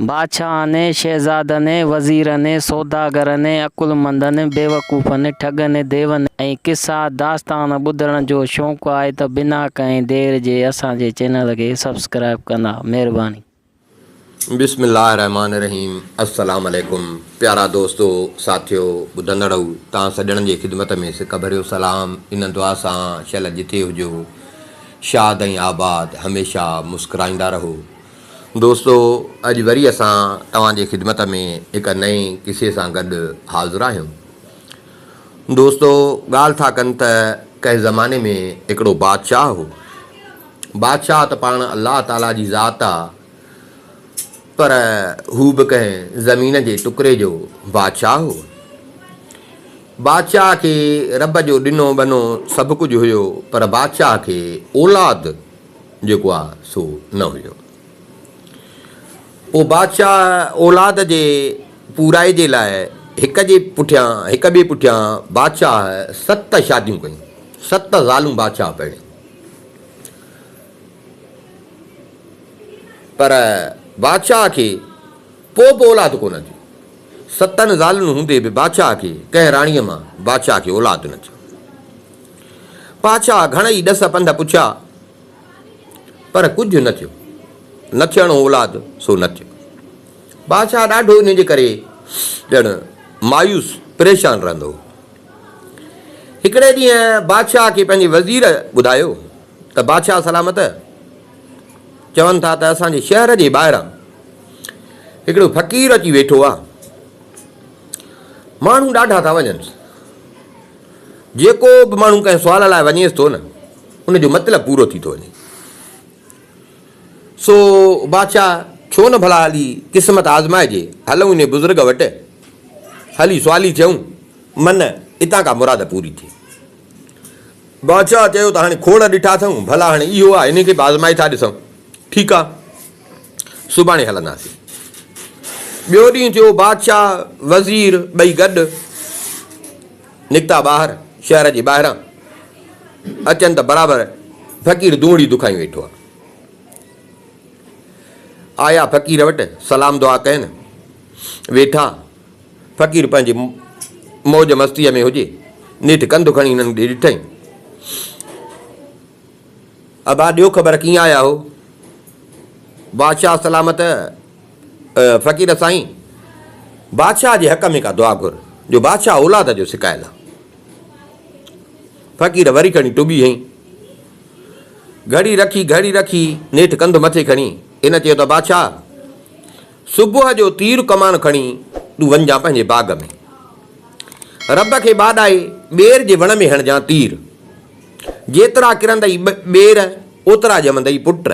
بادشاهن ۽ شهزادن ۽ وزيرن ۽ سوداگرن ۽ عقلمندن ۽ بيوقوفن، ٺڳن ۽ ديون ۽ قصا داستان ٻڌڻ جو شوق آهي ته بنا ڪنهن دير جي اسان جي چينل کي سبسڪرائيب ڪندا. مهرباني. بسم الله الرحمٰن الرحيم السلام عليڪم پيارا دوستو ساٿيو ٻڌندڙئو تان سڄڻن جي خدمت ۾ سڪ ڀريو سلام ان دعا سان شل جتي هجو شاد ۽ آباد هميشه مسڪرائيندا رهو. دوستو اڄ وري اسان توهان جي خدمت ۾ هڪ نئين قصي سان گڏ حاضر آهيون. دوستو ڳالهه ٿا ڪن ته ڪنهن زماني ۾ هڪڙو بادشاهه هو. بادشاهه ته پاڻ الله تعاليٰ جي ذات آ پر هو به ڪنهن زمين جي ٽڪري جو بادشاهه هو. بادشاهه کي رب جو ڏنو ٻنو سڀ ڪجهه هيو پر بادشاهه کي اولاد جيڪو آ سو نه هجڻ. پوء بادشاهه اولاد جي پورائي جي لاء هڪ جي پٺيان هڪ ٻئي پٺيان بادشاهه ست شاديون ڪيون. ست زالون بادشاهه پرڻيون. پر بادشاهه کي پوء به اولاد ڪونه ٿيو. ستن زالن هوندي به بادشاهه کي ڪنهن راڻيء مان بادشاهه کي اولاد نه ٿيو. پاڇا گهڻئي ڏس پنڌ پڇيا، پر ڪجهه نه ٿيو. نه ٿيڻو اولاد سو نه ٿيو. پاڇا ڏاڍو ان جي ڪري ڄڻ مايوس پريشان رهندو هو. هڪڙي ڏينهن بادشاهه کي پنهنجي وزير ٻڌايو ته بادشاهه سلامت چون ٿا ته اسان جي شهر جي ٻاهران هڪڙو فقير اچي ويٺو آهي. ماڻهو ڏاڍا ٿا وڃنس. جيڪو به ماڻهو ڪنهن سوال لاء وڃيس ٿو نه ان جو مطلب پورو ٿي ٿو وڃي. سو بادشاهه ڇو نه ڀلا هلي قسمت آزمائجي، هلون انهي بزرگ وٽ، هلي سوالي ٿيون، من اتان ڪا مراد پوري ٿئي. بادشاهه چيو ته هاڻي کوڙ ڏٺا اٿئون، ڀلا هاڻي اهو آ، انهي کي به آزمائي ٿا ڏسون. ٺيڪ آ. سڀاڻي هلنداسين. ٻيو ڏينهن ٿيو، بادشاهه، وزير ٻئي گڏ نڪتا ٻاهر، شهر جي ٻاهران اچن ته برابر فقير دونهڙي دکائي ويٺو آ. آيا فقير وٽ، سلام دعا ڪين، ويٺا. فقير پنهنجي موج مستيء ۾ هجي، نيٺ ڪنڌ کڻي هنن ڏي ڏٺئي. ابا ڏيو خبر ڪيئن آيا هو. بادشاهه سلامت فقير سائين بادشاهه جي حق ۾ ڪا دعا گهر جو بادشاهه اولاد جو سڪايل آ. فقير وري کڻي ٽٻي هنئي. گهڙي رکي گهڙي رکي نيٺ ڪنڌ مٿي کڻي هن چيو ته بادشاهه صبح جو تير ڪمان کڻي تون وڃجان پنهنجي باغ ۾، رب کي ٻاڏائي ٻير جي وڻ ۾ هڻجان تير، جيترا ڪرندئي ٻير اوترا ڄمندئي پٽ،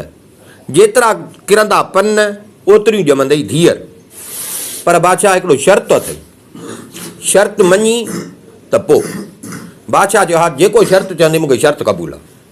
جيترا ڪرندا پن اوتريون ڄمندئي ڌيئر، پر بادشاهه هڪڙو شرط تو اٿئي، شرط مڃين ته پوء. بادشاهه چيو، ها جيڪو شرط چوندين مون کي شرط قبول آ.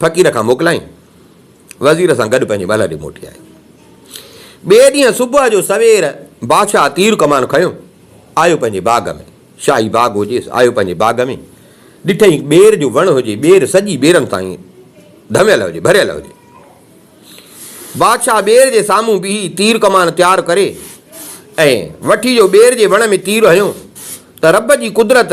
فقير کان موڪلائين، وزير سان گڏ پنهنجي محل ڏي موٽي آيو. ٻئي ڏينهن صبح جو سوير بادشاهه تير ڪمان کنيو آيو پنهنجي باغ ۾، شاهي باغ هجيس، آيو پنهنجي باغ ۾، ڏٺئي ٻير جو وڻ هجي، ٻير سڄي ٻيرن تائين ڌميل هجي، ڀريل هجي. بادشاهه ٻير جي سامهون بيهي تير ڪمان تيار ڪري ۽ وٺي جو ٻير جي وڻ ۾ تير هنيو ته رب جي قدرت،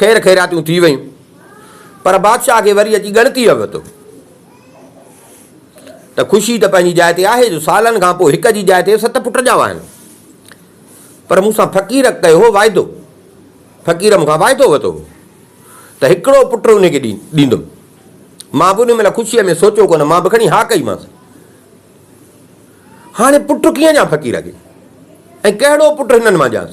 خير خيراتيون ٿي ويون، پر بادشاهه کي وري اچي ڳڻتيء وقت هو ته خوشي ته پنهنجي جاء تي آهي جو سالن کان پوء هڪ جي جاء تي ست پٽ ڄاوا آهن، پر مون سان فقير ڪيو هو واعدو، فقير مون کان واعدو وتو هو ته هڪڙو پٽ ان کي ڏيندم، مان به ان مهل خوشيء ۾ سوچيو ڪونه، مان به کڻي ها ڪئيمانس. هاڻي پٽ ڪيئن ڏيان فقير کي ۽ ڪهڙو پٽ هنن مان ڏيانس؟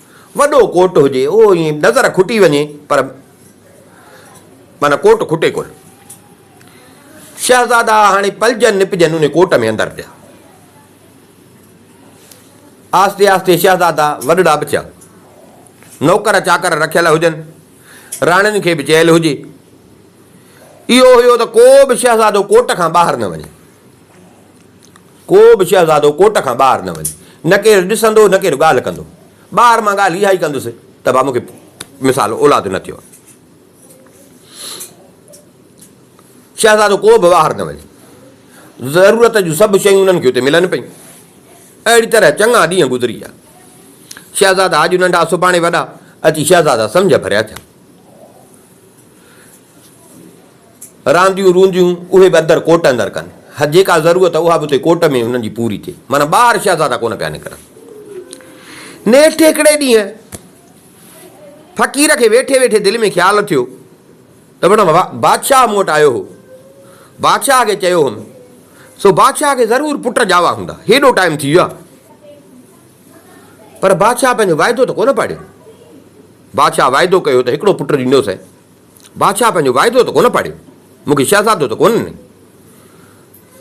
وڏو ڪوٽ هجي اهو ائين نظر کٽي وڃي پر معنيٰ ڪوٽ کٽي ڪونه. شهزادا هاڻي پلجن نپجن ان ڪوٽ ۾ اندر پيا. آهستي آهستي شهزادا وڏڙا به ٿيا. نوڪر چاڪر رکيل هجن، راڻين کي به چيل هجي. اهو هيو ته ڪو به شهزادو ڪوٽ کان ٻاهر نه وڃي. ڪو به شهزادو ڪوٽ کان ٻاهر نه وڃي، نه ڪير ڏسندو نه ڪير ڳالهه ڪندو. ٻاهر مان ڳالهه اها ئي ڪندس ته ڀا مون کي مثال اولاد نه ٿيو آهي. شهزادو ڪو به ٻاهر نه وڃي. ضرورت جون سڀ شيون انهن کي اتي ملن پيون. اهڙي طرح چڱا ڏينهن گذري ويا. شهزادا اڄ ننڍا سڀاڻي وڏا اچي شهزادا سمجهه ڀريا ٿيا. رانديون رونديون اهي به اندر ڪوٽ اندر ڪن ها جيڪا ضرورت اها به اتي ڪوٽ ۾ انهن جي پوري ٿئي معنيٰ ٻاهر شهزادا ڪونه پيا نڪرن نيٺ هڪڙي ڏينهن فقير کي ويٺي ويٺي دل ۾ خيال ٿيو ته وڻ بادشاهه مون وٽ آيو هو بادشاهه کي چيو هوم سو بادشاهه کي ضرور پٽ ڄاوا هوندا هيڏو ٽائيم ٿي ويو آهي پر بادشاهه پنهنجو واعدو ته ڪونه پاڙيو بادشاهه واعدو ڪيو ته هڪڙو پٽ ڏيندوسين بادشاهه پنهنجو واعدو ته ڪونه پاڙيو، مون کي شهزادو ته ڪونه ڏنئي.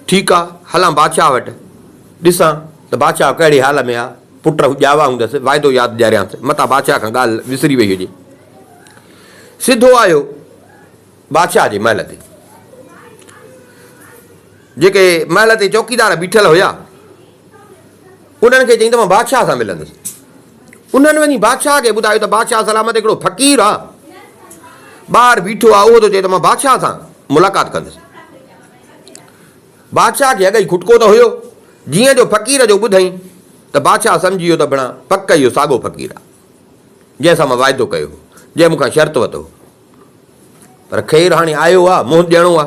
ٺيڪ آ، هلان بادشاهه وٽ، ڏسان ته بادشاهه ڪهڙي حال ۾ آ. پٽ ڄاوا هوندس، واعدو ياد ڏياريانس، متان بادشاهه کان ڳالهه وسري وئي هجي. سڌو آيو بادشاهه جي محل تي. جيڪي محل تي چوڪيدار بيٺل هيا. انهن کي چيائين ته مان بادشاهه سان ملندس. انهن وڃي بادشاهه کي ٻڌايو ته بادشاهه سلامت هڪڙو فقير آ ٻاهر بيٺو آ اهو ٿو چئي ته مان بادشاهه سان ملاقات ڪندس. بادشاهه کي اڳئي کٽڪو ته هيو جيئن جو فقير جو ٻڌئين ته بادشاهه سمجهي ويو ته بڻا پڪ اهو ساڳو فقير آ جنهن سان مان واعدو ڪيو هو جنهن مون کان شرط وتو هو پر خير هاڻي آيو آ منهن ڏيڻو آ.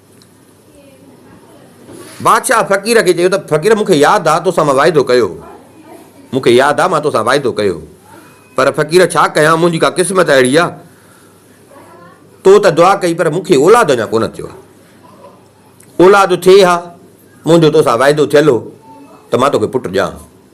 بادشاهه فقير کي چيو ته فقير مون کي ياد آ توسان مان واعدو ڪيو هو، مون کي ياد آ مان توسان واعدو ڪيو هو، پر فقير ڇا ڪيان منهنجي ڪا قسمت اهڙي آ، تو ته دعا ڪئي پر مون کي اولاد اڃا ڪونه ٿيو آ، اولاد ٿئي ها منهنجو توسان واعدو ٿيل هو ته مان توکي پٽ ڏيان ها.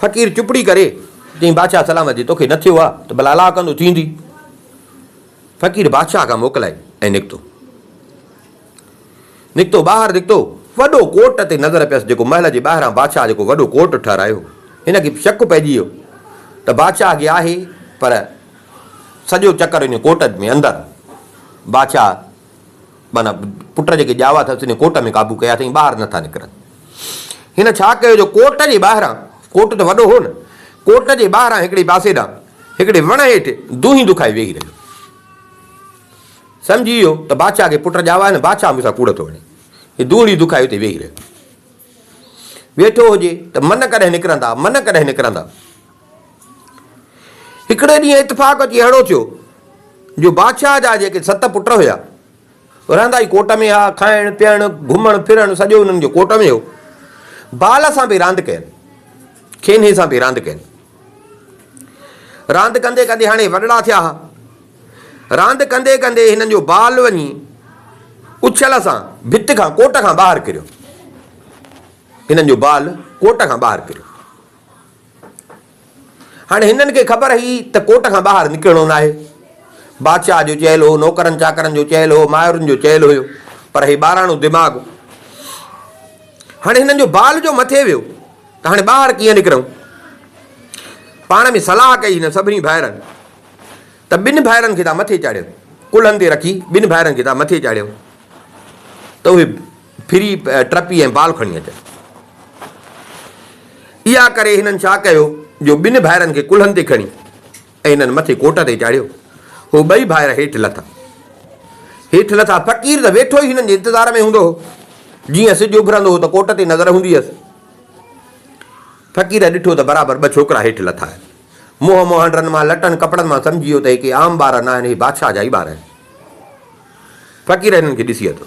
فقير چپڙي ڪري چيائين، بادشاهه سلامت جي توکي نه ٿيو آ ته ڀلا الاهه ڪندو ٿيندي. فقير بادشاهه کان موڪلائي ۽ نڪتو. نڪتو ٻاهر نڪتو وڏو ڪوٽ تي نظر پيس جيڪو محل جي ٻاهران بادشاهه جيڪو وڏو ڪوٽ ٺهرايو هو. هن کي شڪ پئجي ويو ته بادشاهه اڳي آهي پر سڄو چڪر ان ڪوٽ ۾ اندر بادشاهه معنيٰ پٽ جا جيڪي ڄاوا اٿس انهي ڪوٽ ۾ قابو ڪيا اٿئين ٻاهر نه ٿا نڪرن. هن ڇا ڪيو جو ڪوٽ جي ٻاهران، ڪوٽ ته وڏو هو نه، ڪوٽ جي ٻاهران هڪڙي پاسي ڏانهن هڪڙي وڻ هيٺ دونهين دکائي ويهي رهيو. سمجهي ويو ته بادشاهه کي پٽ ڄاوا آهن، بادشاهه مون سان ڪوڙ ٿو هڻي. هي دونهين دکائي اتي ويهي رهيو. ويٺو هجي ته من ڪڏهن نڪرندا، من ڪڏهن نڪرندا. هڪڙي ڏينهن اتفاق اچي اهڙو ٿيو جو بادشاهه جا جيڪي ست پٽ هيا، رهندا ئي ڪوٽ ۾ هيا، کائڻ پيئڻ، گهمڻ ڦرڻ سڄو انهن جو ڪوٽ ۾ هو. بال سان به راند ڪين، کينهي سان به راند ڪين. راند ڪندي ڪندي هاڻي وڏڙا ٿيا ها. راند ڪندي ڪندي هنن جو بال وڃي اڇل سان ڀت کان ڪوٽ کان ٻاهر ڪريو. هنن جو بال ڪوٽ کان ٻاهر ڪريو. هاڻي هنن کي خبر هئي ته ڪوٽ کان ٻاهر نڪرڻو ناهي. بادشاهه جو چيل هو، نوڪرن چاڪرن جو چيل هو، مائرن جو چيل هيو، پر هي ٻاراڻو دماغ. هاڻي هنن جو بال جو مٿي ويو ته هاڻي ٻاهر ڪيئن نڪرون؟ پاڻ ۾ صلاح ڪئي هنن سڀني ڀائرن ته ٻن ڀائرن کي تان مٿي چاڙهيو، ڪلهن تي رکي ٻن ڀائرن کي تان مٿي چاڙهيو ته اهي ڦري ٽرپي ۽ بال کڻي اچن. اها ڪري هنن ڇا ڪيو جو ٻن ڀائرن کي ڪلهن تي کڻي ۽ هنن مٿي ڪوٽ تي چاڙهيو. هو ٻئي ڀائر هيٺ لٿا. هيٺ لٿا فقير ته ويٺو ئي هنن جي انتظار ۾ هوندو هو. جيئن سج اڀرندو هو ته ڪوٽ تي نظر هوندي هيس. فقير ڏٺو ته برابر ٻه ڇوڪرا هيٺ لٿا آهن. منهن مهانڊرن مان لٽن ڪپڙن مان سمجهي ويو ته هي ڪي عام ٻار ناهن، هي بادشاهه جا ئي ٻار آهن. فقير هنن کي ڏسي اٿو.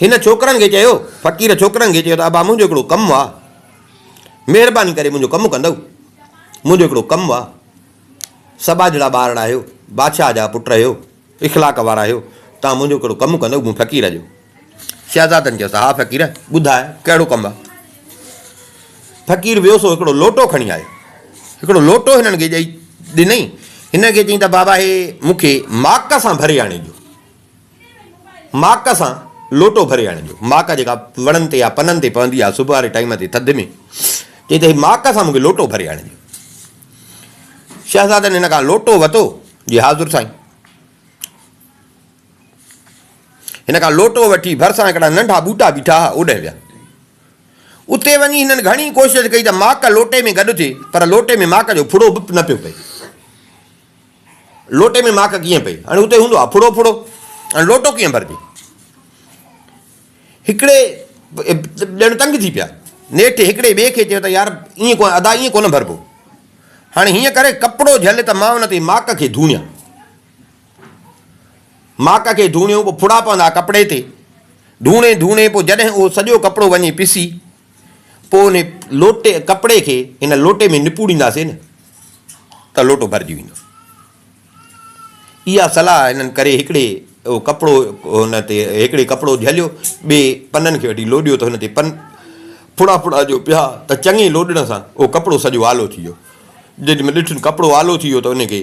هن ڇوڪرن کي چيو، فقير ڇوڪرن کي چيو ته ابا منهنجو هڪڙو ڪم آ، مهرباني ڪري منهنجو ڪم ڪندؤ، منهنجو هڪڙو ڪم آ، سٻاجهڙا ٻارڙا آهيو، بادشاهه جا پٽ آهيو، اخلاق وارا آهيو، توهان منهنجو هڪڙو ڪم ڪندؤ مون فقير جو. شهزادن چيس، ها فقير! ٻڌاء، ڪهڙو ڪم آهي؟ فقير ويو سو هڪڙو لوٽو کڻي آيو. هڪڙو لوٽو هنن کي ڏئي ڏنئين. هنن کي چيائين ته بابا هي مون کي ماڪ سان ڀري آڻي ڏيو. ماڪ سان لوٽو ڀري آڻي ڏيو. ماڪ جيڪا وڻن تي يا پنن تي پوندي آهي صبح واري ٽائيم تي ٿڌ ۾. چيائين ته هي ماڪ سان مون کي لوٽو ڀري آڻي ڏيو. شهزادن هن کان لوٽو وتو، جي حاضر سائين! هن کان لوٽو وٺي ڀرسان هڪڙا ننڍا ٻوٽا بيٺا ها، اوڏهه ويا. اتي وڃي هنن گهڻي ڪوشش ڪئي ته ماڪ لوٽي ۾ گڏ ٿئي، پر لوٽي ۾ ماڪ جو ڦڙو به نه پيو پئي. لوٽي ۾ ماڪ ڪيئن پئي؟ هاڻي اتي هوندو ها ڦڙو ڦڙو، هاڻي لوٽو ڪيئن ڀرجي؟ هڪڙي ڄڻ تنگ ٿي پيا. نيٺ هڪڙي ٻئي کي چيو ته يار ائين ڪونه ادا ائين ڪونه ڀربو. هاڻي هيئن ڪري ڪپڙو جهل ته مان ان تي ماڪ کي ڌوڻيان. ماڪ کي ڌوڻيو پوء ڦڙا پوندا ڪپڙي تي ڌوڻي ڌوڻي پوء جڏهن اهو سڄو ڪپڙو وڃي پسي پوء ان لوٽي ڪپڙي کي ان لوٽي ۾ نپوڙينداسي نه ته لوٽو ڀرجي ويندو اها صلاح هنن ڪري هڪڙي اهو ڪپڙو هن تي هڪڙي ڪپڙو جهليو ٻي پنن کي وٺي لوڏيو ته هن تي پن ڦڙا ڦڙا جو پيا ته چڱي لوڏڻ سان اهو ڪپڙو سڄو آلو ٿي ويو جڏهن ڏٺن ڪپڙو آلو ٿي ويو ته ان کي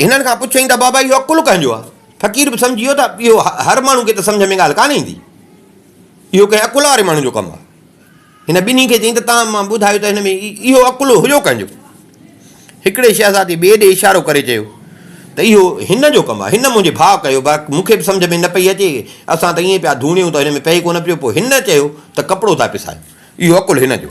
هنن کان پڇيائين ته بابا اهو عقل ڪنهن جو آهي؟ فقير به سمجهي ويو ته اهو هر ماڻهو کي ته سمجهه ۾ ڳالهه ڪانه ايندي. اهو ڪنهن عقل واري ماڻهو جو ڪم آهي. هن ٻنهي کي چيائين ته توهان مان ٻڌايو ته هن ۾ اهو عقل هيو ڪنهن جو؟ هڪڙي شهزادي ٻئي ڏي اشارو ڪري چيو ته اهو هن جو ڪم آهي. هن منهنجي ڀاء ڪيو بيڪ مون کي به سمجهه ۾ نه پئي اچي. اسان ته ائين پيا ڌوڻيون ته هن ۾ پئي ڪونه پيو. پوء هن چيو ته ڪپڙو ٿا پسايو. اهو عقل هن جو.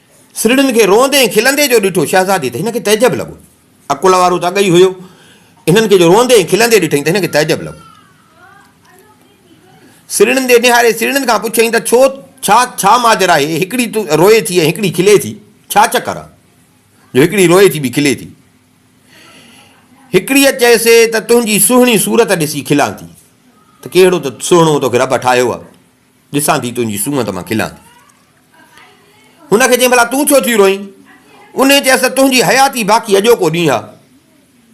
سرڙين کي روئندي ۽ کلندي جو ڏٺو، شهزادي ته هن کي تعجب لڳو. عقل وارو ته اڳ ئي هيو، هنن کي جو روئندي ۽ کلندي ڏٺئين ته هن کي تعجب لڳو. سرڙين ڏي نهاري سرڙين کان پڇيائين ته ڇو ڇا ڇا ماجرا آهي، هڪڙي روئي ٿي ۽ هڪڙي کلي ٿي، ڇا چڪر آهي، جو هڪڙي روئي ٿي ٻي کلي ٿي. هڪڙيء چيس ته تنهنجي سهڻي صورت ڏسي کلان ٿي، ته ڪهڙو ته سهڻو توکي رب ٺاهيو آهي. ڏسان ٿي تنهنجي سونهن ته مان کلان ٿي. هن کي چيائين ڀلا تون ڇو ٿي روئين؟ انهيء چيس ته تنهنجي حياتي باقي اڄوڪو ڏينهن آ،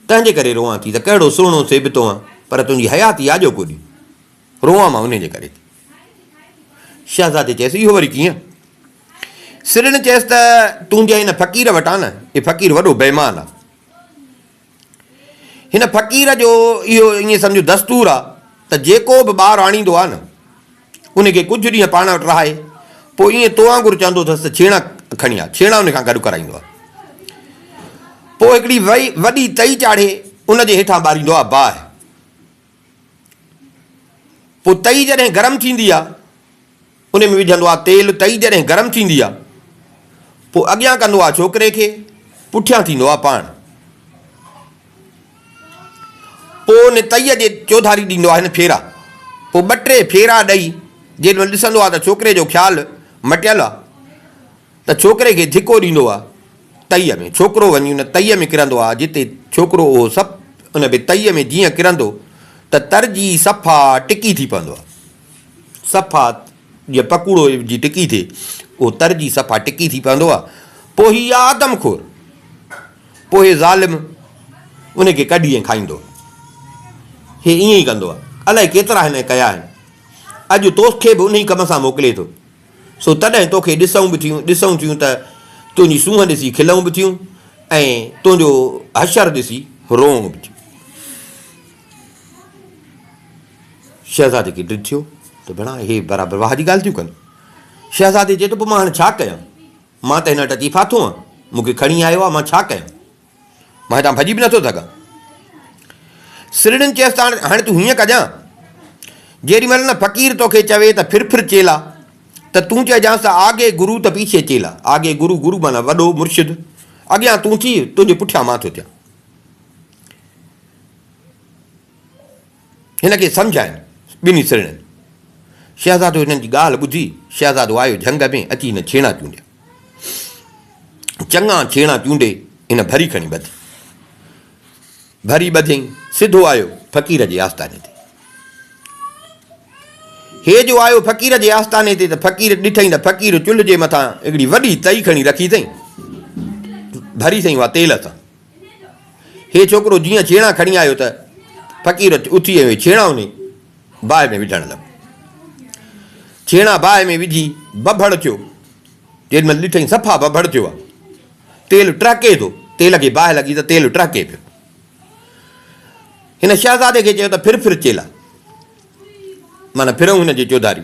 تنهن جي ڪري روئان ٿي ته ڪهڙو سهڻو سيبتو آن، پر تنهنجي حياتي آڄوڪو ڏينهن روئان مان انهيء جي ڪري ٿي. شهزادي چيس اهو وري ڪيئن؟ سرڻ چيس ته تنهنجي ان فقير وٽ آ نه، هي فقير وڏو بيمان آ. هن فقير جو اهو ائين سمجهه دستور آ ته جيڪو به ٻار آڻيندو آ نه ان کي ڪجهه ڏينهن پاڻ وٽ رهائي پوء ائين تو وانگر چوندو اٿس ته ڇيڻا کڻي آ، ڇيڻا ان کان گڏ ڪرائيندو آ. پوء هڪڙي وڏي تئي چاڙهي ان جي هيٺان ٻاريندو آ باهه. پوء تئي جڏهن گرم ٿيندي آ ان ۾ وجهندو آ تيل تئي جڏهن گرم ٿيندي آ پوء اڳيان ڪندو آ ڇوڪري کي پٺيان ٿيندو آ پاڻ پوء ان تئي جي چوڌاري ڏيندو آ هن ڦيرا پوء ٻه ٽي ڦيرا ڏئي جيڏي مهل ڏسندو آ ته ڇوڪري جو خيال مٽيل آ. ته ڇوڪري کي ڌڪو ڏيندو آ تئي ۾، ڇوڪرو وڃي ان تئي ۾ ڪرندو آ جتي ڇوڪرو اهو سپ ان به تئي ۾ جيئن ڪرندو ته تر جي صفا ٽڪي ٿي پوندو آ، صفا جيئن پڪوڙو جي ٽڪي ٿئي اهو تر جي صفا ٽڪي ٿي پوندو آ، پوء هي آ آدم خور، پوء هي ظالم ان کي ڪڍي ۽ کائيندو آ، هي ائين ئي ڪندو آ، الائي ڪيترا هن ڪيا آهن، اڄ توکي به انهي ڪم سان موڪلي ٿو. سو تڏهن توکي ڏسئون به ٿيون، ڏسئون ٿيون ته تنهنجي سونهن ڏسي کلئون به ٿيون ۽ تنهنجو حشر ڏسي روئون به ٿيون. شهزادي کي ڊڄ ٿيو ته ڀيڻا اهي برابر واهه جي ڳالهه ٿيون ڪن. شهزادي چيو ته پوء مان هاڻي ڇا ڪيان؟ مان ته هن وٽ اچي ڦاٿو آهيان، مون کي کڻي آيو آهي، مان ڇا ڪيان؟ مان هتان ڀڄي به نٿو سگهان. سرڙين چيس ته هاڻي تون هيئن ڪجان، جيڏي مهل نه فقير تو کي چوي ته ڦر ڦر چيلا ته تون چئجانس ته آگي گرو ته پيڇي چيلا، آگي گرو، گرو معنيٰ وڏو، مرشد، اڳيان تون ٿي، تنهنجي پٺيان مان ٿو ٿيان. هن کي سمجهاين ٻنهي سرڻين. شهزادو هنن جي ڳالهه ٻڌي شهزادو آيو جهنگ ۾ اچي هن ڇيڻا چونڊيا. چڱا ڇيڻا چونڊي هن ڀري کڻي ٻڌي. ڀري ٻڌيئين سڌو آيو فقير جي آستاني تي. هي جو آيو فقير جي آستاني تي ته فقير ڏٺئين ته فقير چلهه جي مٿان هڪڙي وڏي تئي کڻي رکي اٿئين. ڀري سئي اها تيل سان. هي ڇوڪرو جيئن ڇيڻا کڻي آيو ته فقير اٿي ۽ ڇيڻا انهي باهه ۾ وجهڻ لڳو. ڇيڻا باهه ۾ وجهي ببهڙ ٿيو. جيڏي مهل ڏٺئي صفا ببهڙ ٿيو آهي. تيل ٽهڪي ٿو. تيل کي باهه لڳي ته تيل ٽهڪي پيو. هن شهزادي کي چيو ته ڦر ڦر چيلا. معنيٰ ڦرئون هن جي چوڌاري.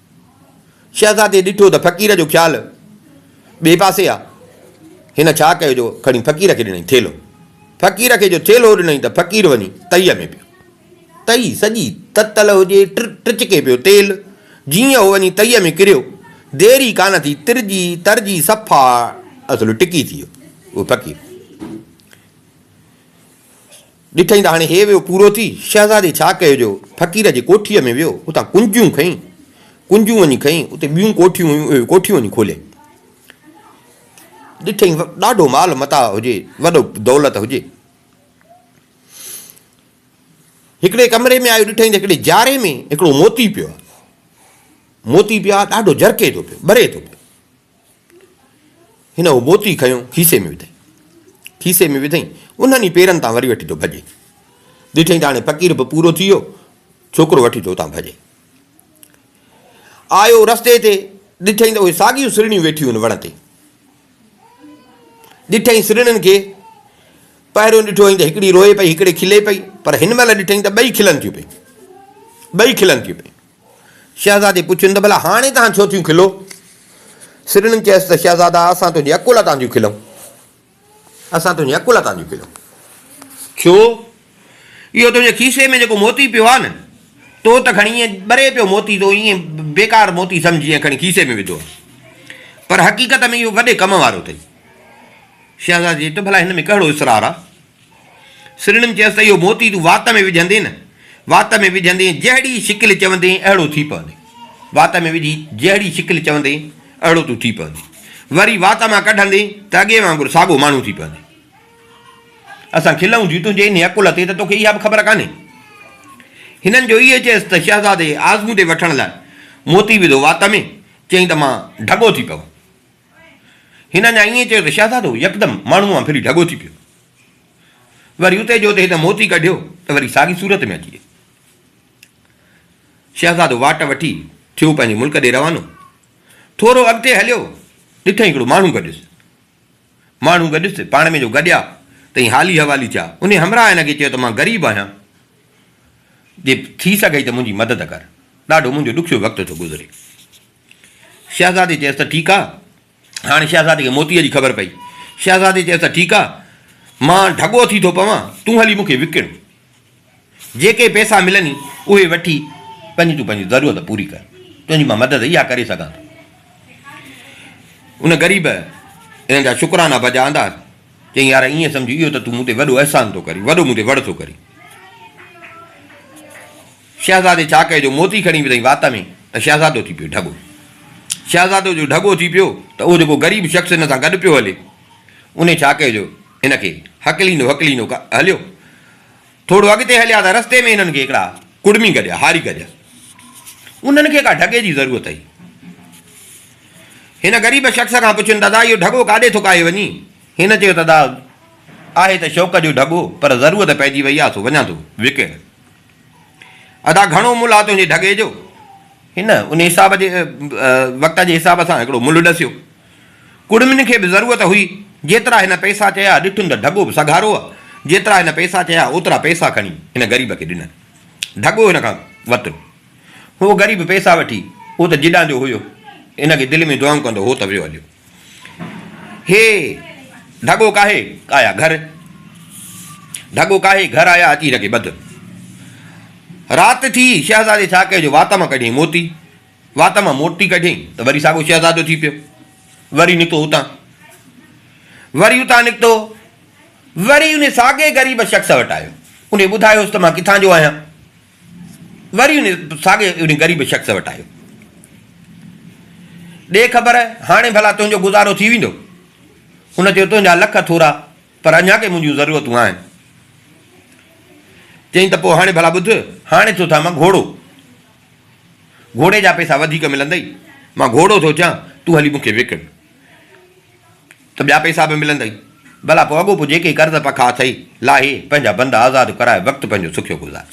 شهزادي ڏٺو ته فقير جو خيال ٻئي پاسي آ، هن ڇا ڪيو جو کڻي فقير کي ڏنائين ٿيلهو. فقير کي جو ٿيلهو ڏنائين ته فقير وڃي تئيء ۾ پيو. تئي سڄي تتل هجي، ٽچڪي پيو تيل، جيئن اهو وڃي تئيء ۾ ڪريو، دير ئي ڪانه ٿي، ترجي ترجي صفا اصل ٽڪي ٿي ويو اهو فقير. ڏٺئين ته هاڻي هي ويو پورو ٿي. شهزادي ڇا ڪيو جو فقير جي ڪوٺيء ۾ ويو، اتان ڪنجيون کنئي، ڪنجون وڃي کنئي، اتي ٻيون ڪوٺيون هيون، اهي ڪوٺيون وڃي کوليائين. ڏٺئين ڏاڍو مال متاع هجي، وڏو دولت هجي. هڪڙي ڪمري ۾ آيو، ڏٺئين ته هڪڙي جاري ۾ هڪڙو موتي پيو آهي. موتي پيو آهي، ڏاڍو جرڪي ٿو پيو، ٻري ٿو پيو. هن اهو موتي کنيو کيسي ۾ وڌئي. کيسي ۾ وڌئي انهن ئي پيرن تان وري وٺي ٿو ڀڄي. ڏٺئي ته هاڻي فقير به پورو ٿي ويو، ڇوڪرو وٺي ٿو اتان ڀڄي. آيو رستي تي ڏٺئي ته اهي ساڳيون سرڻيون ويٺيون آهن وڻ تي. ڏٺئي سرڻين کي پهريون ڏٺو هئائين ته هڪڙي روئي پئي هڪڙي کلي پئي پر هن مهل ڏٺئي ته ٻئي کلن ٿيون پيون ٻئي کلن ٿيون پيون. شهزادي پڇيون ته ڀلا هاڻي توهان ڇو ٿيون کلو؟ سرڻين چيس ته شهزادا اسان تنهنجي عقل تان ٿيون کلون. اسان تنهنجي عقل تان ٿيون کلون. ڇو؟ اهو تنهنجي کيسي ۾ جيڪو موتي پيو آهي نه، تو ته کڻي ائين ٻري پيو موتي تو ائين بيڪار موتي سمجهي ائين کڻي کيسي ۾ وڌو آهي. پر حقيقت ۾ اهو وڏي ڪم وارو اٿئي. شهزادي چيو ته ڀلا هن ۾ ڪهڙو اسرار آهي؟ سرڻيم چيس ته اهو موتي تون وات ۾ وجهندين نه، وات ۾ وجهندين جهڙي شڪل چوندين اهڙو ٿي پوندين. وات ۾ وجهي جهڙي شڪل چوندين اهڙو تون ٿي پوندين. وري وات مان ڪڍندين ته اڳي وانگر ساڳو ماڻهو ٿي پوندين. اسان کلئون ٿي تنهنجي انهيء عقل تي ته توکي اها به خبر ڪانهي. هنن جو اهي چيس ته شهزادي آزمودي وٺڻ لاء موتي وڌو وات ۾، چيائين ته مان ڍڳو ٿي پوان. هن اڃا ائين چيو ته شهزادو يڪدم ماڻهوء وانگ ڦري ڍڳو ٿي پيو. وري اتي جو اتي هن موتي ڪڍيو ته وري ساڳي صورت ۾ اچي ويو. شهزادو واٽ وٺي ٿيو پنهنجي ملڪ ڏي روانو. ٿورو اڳتي هليو، ڏٺئي هڪڙو ماڻهو گڏيس. ماڻهو گڏيس، پاڻ ۾ جو گڏيا تئين حالي حوالي ٿيا. انهيء همراهه هن کي چيو ته مان غريب آهيان، جي ٿي سگهئي ته منهنجي مدد ڪر. ڏاڍو منهنجو ڏکيو وقت ٿو گذري. شهزادي چيس ته ٺيڪ آ. هاڻي شهزادي کي موتيء جي خبر پئي. شهزادي چيس ته ٺيڪ آ، مان ڍڳو ٿي ٿو پوان، تون هلي مون کي وڪڻ. جيڪي پئسا ملني، اهي وٺي پنهنجي تون پنهنجي ضرورت پوري ڪر. تنهنجي مان مدد اها ڪري سگهان ٿو. ان غريب ان جا شڪرانا بجا آندا. چيائين، يار ائين سمجهه، اهو ته تون مون تي وڏو احسان ٿو ڪرين، وڏو مون تي وڙ ٿو ڪرين. شهزادي چاڪئي جو موتي کڻي وڌئي وات ۾ ته شهزادو ٿي پيو ڍڳو. شهزادو جو ڍڳو ٿي پيو ته اهو جيڪو غريب شخص هن سان گڏ پيو هلي، انهي چاڪئي جو هن کي هڪليندو هڪليندو هليو. ٿورو اڳتي هليا ته رستي ۾ هنن کي هڪڙا ڪڙمي گڏيا، هاري گڏيا. انهن کي ڪا ڍڳي جي ضرورت هئي. هن غريب شخص کان پڇين دادا اهو ڍڳو ڪاڏي ٿو ڪاهي وڃي؟ هن چيو دادا آهي ته شوق جو ڍڳو پر ضرورت پئجي وئي آهي سو وڃان ٿو وڪڻڻ. ادا گهڻو ملهه آ تنهنجي ڍڳي جو. هن ان حساب جي وقت جي حساب سان هڪڙو ملهه ڏسيو. ڪڙمين کي به ضرورت هئي. جيترا هن پئسا چيا، ڏٺم ته ڍڳو به سگهارو آ. جيترا هن پئسا چيا، اوترا پئسا کڻي هن غريب کي ڏنا. ڍڳو هن کان ورتو. هو غريب پئسا وٺي، هو ته جيڏانهن جو هيو. هن کي دل ۾ دعائون ڪندو هو ته ويو هليو. هي ڍڳو ڪاهي آيا گهر. ڍڳو ڪاهي گهر آيا اچي رڳي ٻڌ. رات ٿي شهزادي ڇا ڪيو جو وات مان ڪڍيائين موتي. وات مان موتي ڪڍيائين ته وري ساڳو شهزادو ٿي پيو. وري نڪتو اتان. وري اتان نڪتو. وري ان ساڳي غريب شخص وٽ آيو. انهي ٻڌايوس ته مان ڪٿان جو آهيان. وري ان ساڳي ان غريب شخص وٽ آيو. ڏي خبر، هاڻي ڀلا تنهنجو گذارو ٿي ويندو؟ هن چيو، تنهنجا لک ٿورا، پر اڃا ڪي منهنجون ضرورتون آهن. چيائين ته پوء هاڻي ڀلا ٻڌ، هاڻي ٿو ٿيان مان گهوڙو. گهوڙي جا پئسا وڌيڪ ملندئي. مان گهوڙو ٿو ٿيان، تون هلي مون کي وڪڻ. ته ٻيا پئسا به ملندئي. ڀلا پوء اڳوپو جيڪي قرض پکا اٿئي، لاهي، پنهنجا بند آزاد ڪرائي وقت پنهنجو سکيو گذار.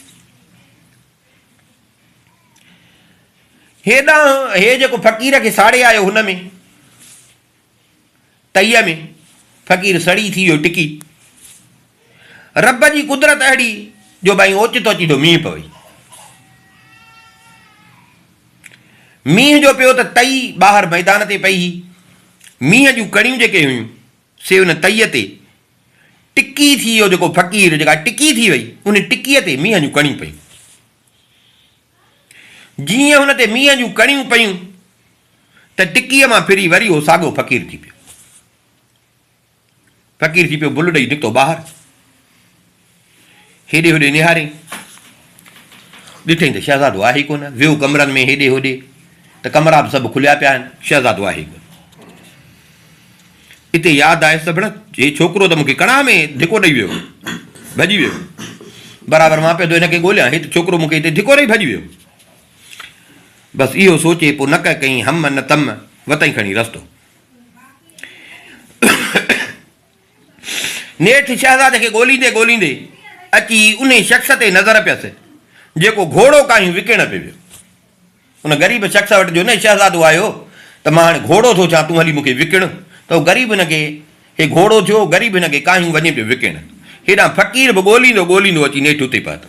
هيڏانهن هي جيڪو فقير کي ساڙي آيو هن ۾ تئيء ۾ فقير سڙي ٿي ويو ٽڪي. رب جي قدرت اهڙي جو بئين اوچتو اوچيتو مينهن پوي. مينهن جو پيو ته تئي ٻاهر ميدان تي پئي هئي. مينهن جون ڪڻيون جيڪي هيون سي ان تئي تي ٽڪي ٿي اهو جيڪو فقير جيڪا ٽڪي ٿي وئي ان ٽڪي تي مينهن جون ڪڻيون پيون. جيئن هن تي مينهن جون ڪڻيون پيون ته ٽڪي مان ڦري وري اهو ساڳيو فقير ٿي پيو. فقير ٿي پيو بل ڏئي نڪتو ٻاهر. هيڏي هوڏي نهارين ڏٺئين ته شهزادو آهي ئي ڪونه. ويو ڪمرن ۾ هيڏي هوڏي ته ڪمرا به سڀ کليا پيا آهن، شهزادو آهي ئي ڪونه. اتي ياد آيس ته ڀڻ هي ڇوڪرو ته مون کي ڪڙاهه ۾ ڌڪو ڏئي ويو هو، ڀڄي ويو. برابر مان پيو ٿو هن کي ڳوليان، هي ته ڇوڪرو مون کي هتي ڌڪو ڏئي ڀڄي ويو. بس اهو سوچي پوء نه ڪه ڪئين هم نه تم، وتئين کڻي رستو. نيٺ شهزادي کي ڳوليندي ڳوليندي اچي انهي شخص تي نظر پيس جيڪو گهوڙو ڪاهيون وڪڻڻ پئي ويو. ان غريب شخص وٽ جو نه شهزادو آيو ته مان هاڻي گهوڙو ٿو ٿيان تون هلي مون کي وڪڻ ته هو غريب هن کي هي گهوڙو ٿيو غريب هن کي ڪاهيون وڃي پيو وڪڻڻ هيڏانهن فقير به ڳوليندو ڳوليندو اچي نيٺ اتي پهتو.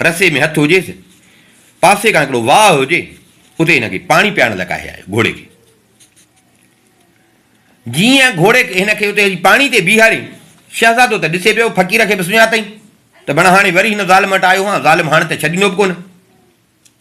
رسي ۾ هٿ هجيس، پاسي کان هڪڙو واهه هجي، اتي هن کي پاڻي پيارڻ لاء ڪاهي آيو، گهوڙي کي. جيئن گهوڙي هن کي اتي پاڻي تي بيهارين، شهزادو ته ڏسي پيو، فقير کي به سڃاتئين ته بڻ هاڻي وري هن ظالم وٽ آيو هان، ظالم هاڻ ته ڇڏيندو به ڪونه.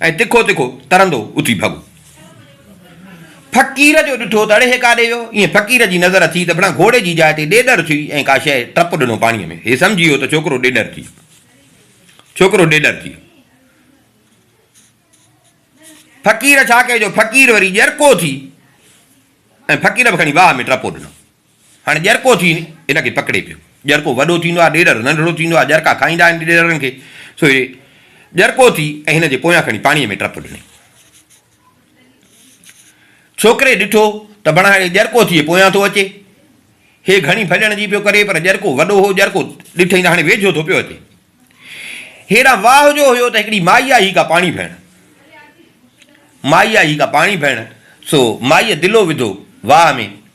۽ تکو تکو ترندو اٿي ڀڳو. فقير جو ڏٺو ته اڙي هي ڪاڏي ويو؟ ايئن فقير جي نظر ٿي ته بڻان گهوڙي جي جاء تي ڏيڏر ٿي ۽ ڪا شيء ٽپ ڏنو پاڻيء ۾. هي سمجهي ويو ته ڇوڪرو ڏيڏر ٿي ويو. ڇوڪرو ڏيڏر ٿي ويو. فقير ڇا ڪيو جو فقير وري ڄرڪو ٿي ۽ فقير به کڻي واهه ۾ ٽپو ڏنو. هاڻي ڄرڪو ٿي ان کي پڪڙي پيو. ڄرڪو وڏو ٿيندو آهي، ڏيڏر ننڍڙو ٿيندو آهي، ڄرڪا کائيندا آهن ڏيڏرن کي، سو هي ڄرڪو ٿي ۽ هن جي پويان کڻي پاڻيء ۾ ٽپ ڏني. ڇوڪري ڏٺو ته بڻهاڙي ڄرڪو ٿئي پويان ٿو اچي. هي گهڻي ڀڄڻ جي پيو ڪري، پر ڄرڪو وڏو هو، ڄرڪو ڏٺئي ته هاڻي ويجهو ٿو پيو اچي. هيڏانهن واهه جو هيو ته هڪڙي مائي آهي ڪا پاڻي ڀرڻ. مائي آهي ڪا پاڻي ڀرڻ، سو مائيء دلو وڌو واهه ۾،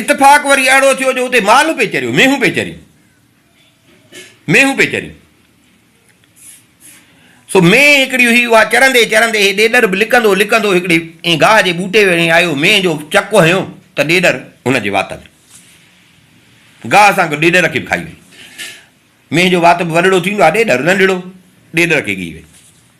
اتفاق وري اهڙو ٿيو جو اتي مال پئي چريو، مينهون پئي چريون، مينهون پئي چريون. سو مينهن هڪڙي هئي، اها چرندي چرندي هي ڏيڏر به لڪندو لڪندو هڪڙي ائين گاهه جي ٻوٽي ويڙهي آيو، مينهن جو چڪ هنيو ته ڏيڏر هن جي وات ۾ گاهه سان گڏ ڏيڏر کي به کائي وئي. مينهن جو وات به وڏڙو ٿيندو آهي، ڏيڏر ننڍڙو، ڏيڏر کي ڳهي وئي.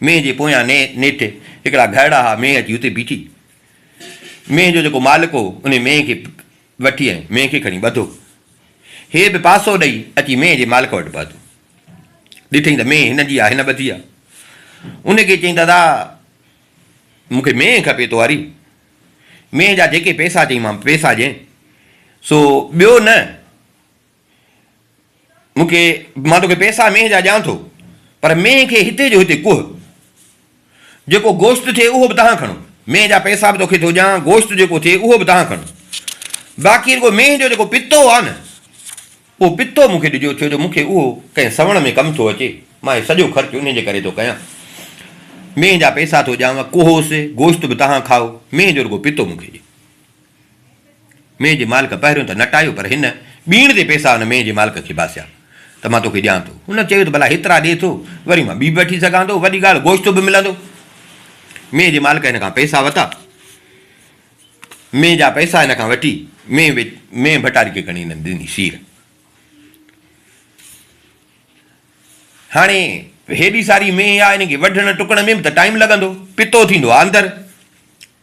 مينهن جي پويان نيٺي هڪڙا گهرڙا ها مينهن اچي اتي بيٺي. مينهن جو جيڪو مالڪ هو انهي مينهن کي وٺي ۽ مينهن کي کڻي ٻڌو. هي به پاسو ڏئي اچي مينهن جي مالڪ وٽ پهتو. ڏٺئين ته مينهن هن جي آ هن ٻڌي آ. انهي کي چيائين دادا مون کي مينهن کپي تو واري مينهن جا جيڪي پيسا چئين مان پيسا ڏيئين سو ٻيو نه مون کي، مان توکي پيسا مينهن جا ڏيان ٿو، پر مينهن کي هتي جو هتي ڪوهه. جيڪو گوشت ٿئي اهو به تهان کڻو. مينهن جا پيسا به توکي ٿو ڏيان، گوشت جيڪو ٿئي اهو به تهان کڻو. باقي رڳو مينهن جو جيڪو پتو آهي نه، اهو پتو مون کي ڏجو، ڇو جو مون کي اهو ڪنهن سوڻ ۾ ڪم ٿو اچي. مان هي سڄو خرچ انهيء جي ڪري ٿو ڪيان. مينهن جا پيسا ٿو ڏيانء، ڪوهوس، گوشت به تهان کائو، مينهن جو رڳو پتو مون کي ڏي. مينهن جي مالڪ پهريون ته نه ٽايو، پر هن ٻيڻ تي پئسا ان مينهن جي مالڪ کي باسيا ته مان توکي ڏيان ٿو. هن چيو ته ڀلا هيترا ڏي ٿو، وري مان ٻي به وٺي سگهان ٿو، وڏي ڳالهه گوشت به ملندو. مينهن جي مالڪ هن کان پئسا وتا. مينهن جا پئسا هن کان وٺي، مينهن ويچ، مينهن ڀٽاري کي کڻي هن ڏني سير. هاڻي هيڏي ساري مينهن آ، هن کي وڍڻ ٽڪڻ ۾ به ته ٽائيم لڳندو، پتو ٿيندو آ اندر.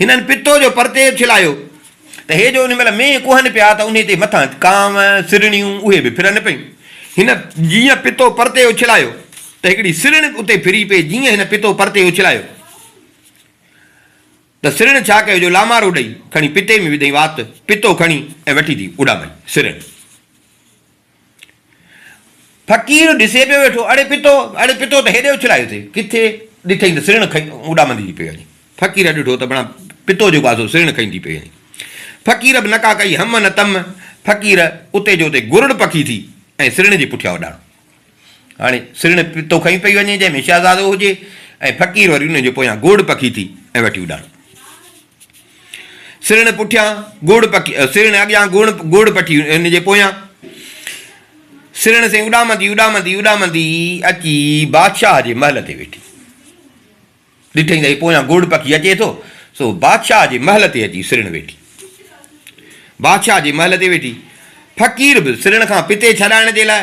هنن پتو جو پرتيب ڇلايو ته هي جو ان مهل مينهن ڪهن پيا ته انهي تي مٿان ڪانء، سرڻيون، اهي به ڦرن پيون. هن جيئن پتو پرتي اڇلايو ته هڪڙي سرڻ به اتي ڦري پئي، جيئن هن پتو پرتي اڇلايو ته سرڻ ڇا ڪيو جو لامارو ڏئي کڻي پتي ۾ وڌئين وات، پتو کڻي ۽ وٺي ٿي اڏامائي سرڻ. فقير ڏسي پيو ويٺو، اڙي پتو، اڙي پتو ته هيڏي اڇلايو ٿي، ڪٿي ڏٺئين ته سرڻ کئي اڏامندي ٿي پئي وڃي. فقير ڏٺو ته بڻا پتو جيڪو آهي سو سرڻ کئي ٿي پئي وڃي. فقير به نڪا ڪئي هم نه تم، فقير اتي جو اتي گرڙ پکي ٿي ۽ سرڻ جي پٺيان اڏاڻو. هاڻي سرڻ پتو کئي پئي وڃي جنهن ۾ شهزادو هجي ۽ فقير وري ان جي پويان گرڙ پکي ٿي ۽ وٺي اڏاڻو. سرڻ پٺيان گوڙ پڪي سرڻ اڳيان گوڙ گوڙ پٺي ان جي پويان سرڻ سين اڏامندي اڏامندي اڏامندي اچي بادشاهه جي محل تي ويٺي ڏٺئي ته پويان گوڙ پکي اچي ٿو سو بادشاهه جي محل تي اچي سرڻ ويٺي بادشاهه جي محل تي ويٺي فقير به سرڻ کان پتي ڇڏائڻ جي لاء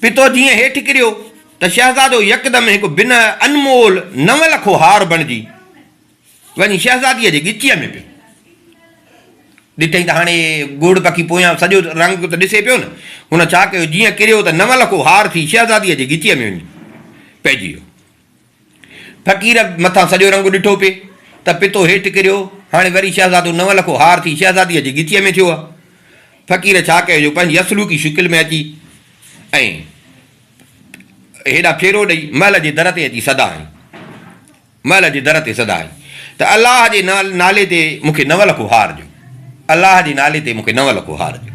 پتو جيئن هيٺ ڪريو ته شهزادو يڪدم هڪ بنهه انمول نو لکو هار بڻجي وڃي شهزاديء جي ڳچيء ۾ پيو. ڏٺئي ته هاڻي گوڙ پکي پويان سڄو رنگ ته ڏسي پيو نه. هن ڇا ڪيو جيئن ڪريو ته نو لکو هار ٿي شهزاديء جي ڳچيء ۾ وڃي پئجي ويو. فقير مٿان سڄو رنگ ڏٺو پي ته پتو هيٺ ڪريو، هاڻي وري شهزادو نون لکو هار ٿي شهزاديء جي ڳچيء ۾ ٿيو آ. فقير ڇا ڪيو جو پنهنجي اصلوڪي شڪل ۾ اچي ۽ هيڏانهن ڦيرو ڏئي محل جي در تي اچي صدا هنئي. محل جي در تي صدا هنئي ته الله جي نالي تي مون کي نون لکو هار ڏيو. الله جي نالي تي مون کي نون لکو هار ڏيو.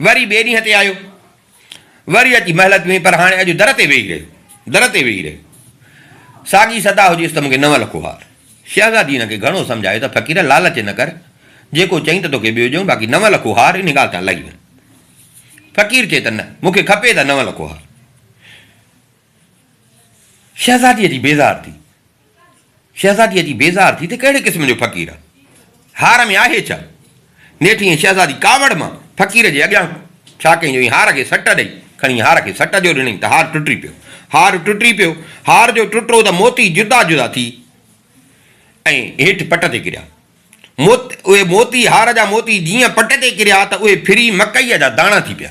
وري ٻئي ڏينهن تي آيو. وري اچي محلت ۾ پر هاڻي اڄ در تي ويهي رهيو. در تي ويهي رهيو. ساڳي صدا هجيس ته مون کي نون لکو ها. شهزادي هن کي گهڻو سمجهايو ته فقير لالچ نه ڪر. جيڪو چئين ته توکي ٻيو ڏيون باقي نون لکو هار ان ڳالهه تان لهي وڃ. فقير چئي ته نه مون کي کپي ته نون لکو هار. شهزاديء جي بيزار ٿي. شهزاديء جي بيزار ٿي ته ڪهڙي قسم جو فقير آ؟ هار ۾ آهي ڇا؟ نيٺ ائين شهزادي ڪاوڙ مان فقير جي اڳيان ڇا ڪيائين جو ائين هار کي سٽ ڏئي، کڻي هار کي سٽ جو ڏنائين ته هار ٽٽي پيو. هار ٽٽي پيو. هار جو ٽٽو ته موتي جدا جدا ٿي ۽ هيٺ پٽ تي ڪريا. موت اهي موتي هار جا موتي جيئن پٽ تي ڪريا ته اهي ڦري مڪئيء جا داڻا ٿي پيا.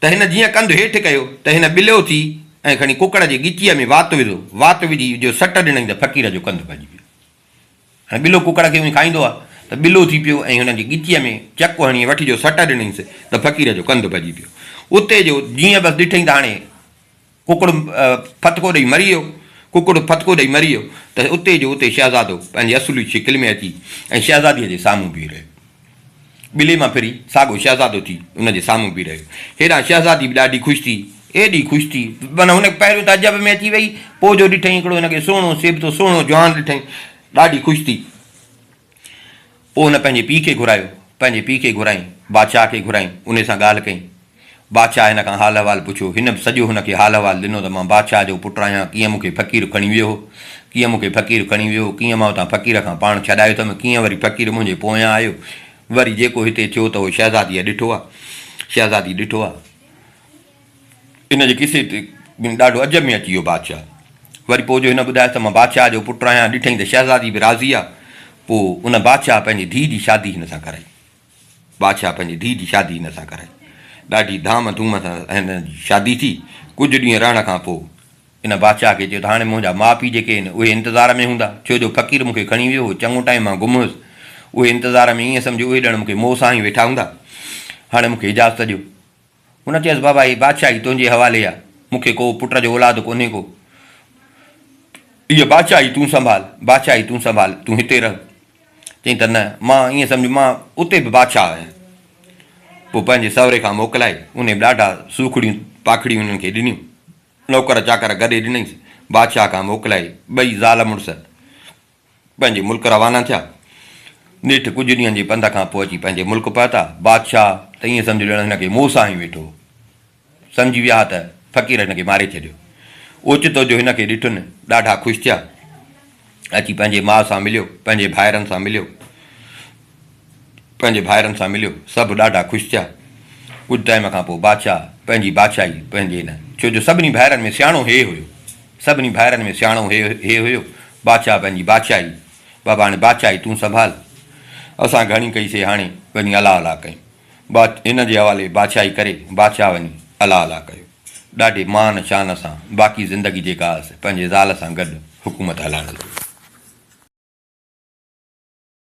ته هن جيئن ڪنڌ هيٺ ڪيو ته هن ٻليو ٿي ۽ کڻي ڪڪڙ جي ڳچيء ۾ وات وڌو، وات وجهي جو سٽ ڏنائين ته فقير جو ڪنڌ ڀڄي ويو. هاڻي ٻلو ڪڪڙ کي اونهي کائيندو آ ته ٻلو ٿي پيو ۽ هن جي ڳچيء ۾ چڪ هڻي وٺ جو سٽ ڏنائينس ته فقير جو ڪنڌ ڀڄي پيو. اتي جو جيئن بس ڏٺئي ته هاڻي. ڪڪڙ ڦٿڪو ڏئي مري ويو. ڪڪڙ ڦٿڪو ڏئي مري ويو ته اتي جو اتي شهزادو پنهنجي اصلي شڪل ۾ اچي ۽ شهزاديء جي سامهون بيهي رهيو. ٻلي مان ڦري ساڳو شهزادو ٿي ان جي سامهون بيهي رهيو. هيڏانهن شهزادي به ڏاڍي خوش ٿي، ايڏي خوش ٿي معنيٰ هن کي پهريون ته عجب ۾ اچي ويئي، پوء جو ڏٺائين هڪڙو هن کي سهڻو سيبتو سهڻو جوان ڏٺائين، ڏاڍي خوش ٿي. پوء هن پنهنجي پيء کي گهرايو. پنهنجي پيء کي گهرائين. بادشاهه کي گهرائين. انهي سان ڳالهه ڪئين. بادشاهه هن کان حال احوال پڇيو. هن به سڄو هن کي حال احوال ڏنو ته مان بادشاهه جو پٽ آهيان، ڪيئن مون کي فقير کڻي ويو هو، ڪيئن مون کي فقير کڻي ويو هو، ڪيئن مان اتان فقير کان پاڻ ڇڏايو اٿم، ڪيئن وري فقير منهنجي پويان آيو، وري جيڪو هتي ٿيو ته اهو شهزاديء ڏٺو آهي. شهزادي ڏٺو آهي. ان جي قصي تي ٻن ڏاڍو عجب ۾ اچي ويو بادشاهه. وري پوء جو هن ٻڌايس ته مان بادشاهه جو پٽ آهيان، ڏٺئي ته شهزادي به راضي آهي. پوء ان بادشاهه پنهنجي ڌيء جي شادي هن سان ڪرائي. بادشاهه پنهنجي ڌيء جي شادي هن سان ڪرائي. ڏاڍي ڌام ڌوم سان هن جي شادي ٿي. ڪجهه ڏينهن رهڻ کان پوء ان بادشاهه کي چيو ته هاڻي منهنجا ماء پيء جيڪي آهن اهي انتظار ۾ هوندا، ڇو جو فقير مون کي کڻي ويو هو، چڱو ٽائيم مان گم هيس. اهي انتظار ۾، ائين سمجهو اهي ڄڻ مون کي موء سان هي ويٺا هوندا. هاڻي مون کي اجازت ڏيو. هن چيس، بابا هي بادشاهي تنهنجي حوالي آ، مون کي ڪو پٽ جو اولاد ڪونهي ڪو. هيء بادشاهي تون سنڀال، بادشاهي تون سنڀال، تون هتي رهه. چيائين ته نه، مان ائين سمجهيو مان اتي به بادشاهه آهيان. پوء پنهنجي سئوري کان موڪلائي، انهي به ڏاڍا سوکڙيون پاکڙيون انهن کي ڏنيون. نوڪر چاڪر گڏي ڏنئيس، بادشاهه کان موڪلائي، ٻئي زال مڙس. پنهنجي ملڪ روانا ٿيا. نيٺ ڪجهه ڏينهن جي پنڌ کان پوء اچي پنهنجي ملڪ پهتا. بادشاهه ته ائين سمجهيو ڄڻ هن کي موسيٰ هنئي ويٺو هو. سمجهي ويا ها ته فقير هن کي ماري ڇڏيو. اوچتو جو هن کي ڏٺن، ڏاڍا خوش ٿيا. اچي پنهنجي ماء سان مليو، پنهنجي ڀائرن سان مليو. پنهنجي ڀائرن سان مليو. سڀ ڏاڍا خوش ٿيا. ڪجهه ٽائيم کان پوء بادشاهه پنهنجي بادشاهي پنهنجي نه ڇو جو سڀني ڀائرن ۾ سياڻو هيء هيو. سڀني ڀائرن ۾ سياڻو هيء هيو. بادشاهه پنهنجي بادشاهي بابا هاڻي بادشاهي تون سنڀال. اسان گهڻي ڪئي سي هاڻي وڃي الا الا ڪيون. بادشاهه هن جي حوالي بادشاهي ڪري بادشاهه وڃي الا الا ڪيو. ڏاڍي مان شان سان باقي زندگي جيڪا هئس پنهنجي زال سان گڏ حڪومت هلائڻ لڳو.